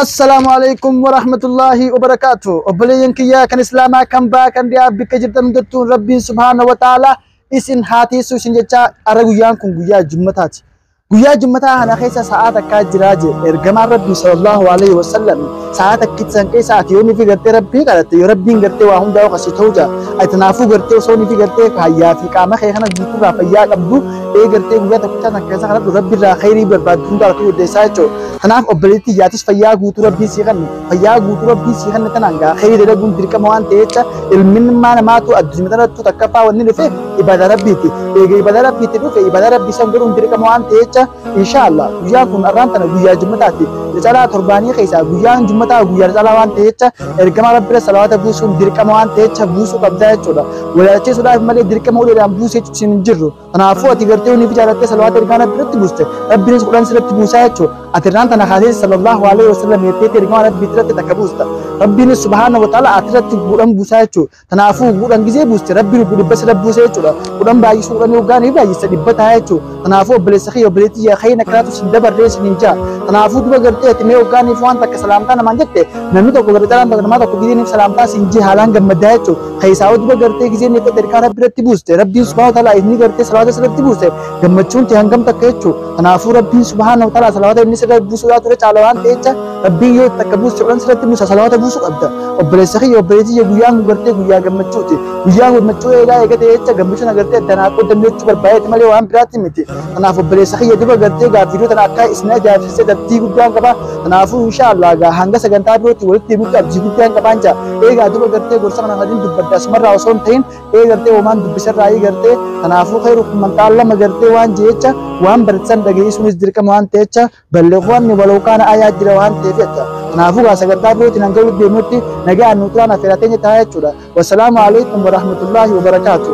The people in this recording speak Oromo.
Assalaamu alaikum wa rahmatullahi wa barakaatu. Obboleeyyan kiyyaa kan Islaamaa kan baa kan dhiyaa bakka jirtan hundattuu Rabbiin subhaana wa ta'ala isin haa tiisu isin jechaa ara guyyaan kun guyyaa jummataati. Guyyaa jummataa kana keessa sa'aa takkaa jiraa jee ergamaan Rabbii sallallahu alaihi wa sallam sa'aa takkitti san keessa ati yoo nifi gartee Rabbii kadhatte yoo Rabbiin gartee waa hundaa oqasi ta'uu jaa ati naafuu gartee osoo nifi gartee fayyaa fi qaama kee kana guutuurraa fayyaa qabdu ee gartee guyyaa tokkichaa san keessa kadhadhu Rabbi irraa khayrii barbaaddu hundaa argachuu dandeessaa jechuudha. Kanaaf obboleettii yaatis fayyaa guutuu rabbiin sii kanne fayyaa guutuu rabbiin sii kanne tanaan gaa khayrii dalaguun dirqama waan ta'e jecha ilminummaa namaatu addunyaa tanattu takkaffaa wanni dhufe ibada rabbiiti eega ibada rabbiiti dhufe ibada rabbii san godhuun dirqama waan ta'e jecha inshaallah guyyaan kun arraan tana guyyaa jummataati ricalaa torbaanii keessaa guyyaan jummataa guyyaa ricalaa waan ta'e jecha ergama rabbira salawaata buusuun dirqama waan ta'e jecha buusuu qabdaa jechuudha walaalchisuudhaaf malee dirqama uleedhaan buusee jechuun hin jirru Kanaafuu ati gartee hunni fi jaalattee salawaata ergaa rabbi irratti buuste rabbiinis quraan sirratti buusaa jechuun ati irraan tana kaasee sallallahu alaihi wasallam jetteetti ergaa rabbii irratti takka buusta rabbiinis subhaana wa ta'ala ati irratti guudhan buusaa jechuun kanaafuu guudhan gisee buuste rabbiin obbo dhibba sirra buusee jechuudha guudhan baay'isuu guudhan yoggaan ni baay'isa dhibba ta'a jechuun kanaafuu obboleessa kiyya obboleetti yaa kayyina kanaatu sin dabarree sin hin jaa kanaafuu duba gartee ati mee yoggaaniif waan takka salaamtaa namaan jette namni tokko gartee namaa tokko gidiiniif salaamtaa sin jee haalaan gammadaa jechuudha Keessaa yoo duba gartee gisee meeqa xerqaa rabbi irratti buuste rabbiin subhaana wa ta'ala inni gartee salaata sirratti buuste gammachuun tee hangam takka jechuu kanaafuu rabbiin subhaana wa ta'ala salaata inni sirra buusuudhaa ture caala waan ta'e jecha rabbiin yoo takka buuste olan sirratti buusa salaata buusu qabda obboleessa kiyya obboleessi kiyya guyyaan kun gartee guyyaa gammachuuti guyyaa gammachuu eegaa eegatee jecha gammachuun agartee addaan haa qoodamne jechuu barbaadee malee waan biraatti miti Kanaaf obboleessa kiyya dura gartee gaaffiidoo tana akka isin ajaa'ibsiise abdii guddaan qaba. Kanaafuu inshaallah egaa hanga sagantaa birootti walitti deebi'utti abdii guddaan qabaan jira. Eegaa dura gartee gorsa kana waliin dubbadde asumarraa osoo hin ta'in ee gartee homaan dubbisarraa ee gartee kanaafuu khayru kumman ta'allama gartee waan jecha waan barsiisan dhageessuunis dirqama waan ta'echa balleewwanni waloo kaana ayaa jira waan ta'eef jecha. Kanaafuu gaa sagantaa birootiin hanga walitti deemutti nagaan nu turaan affeeraa teenya ta'a jechuudha. Wassalaamu alaikum warahmatullaahi wabarakaatuh.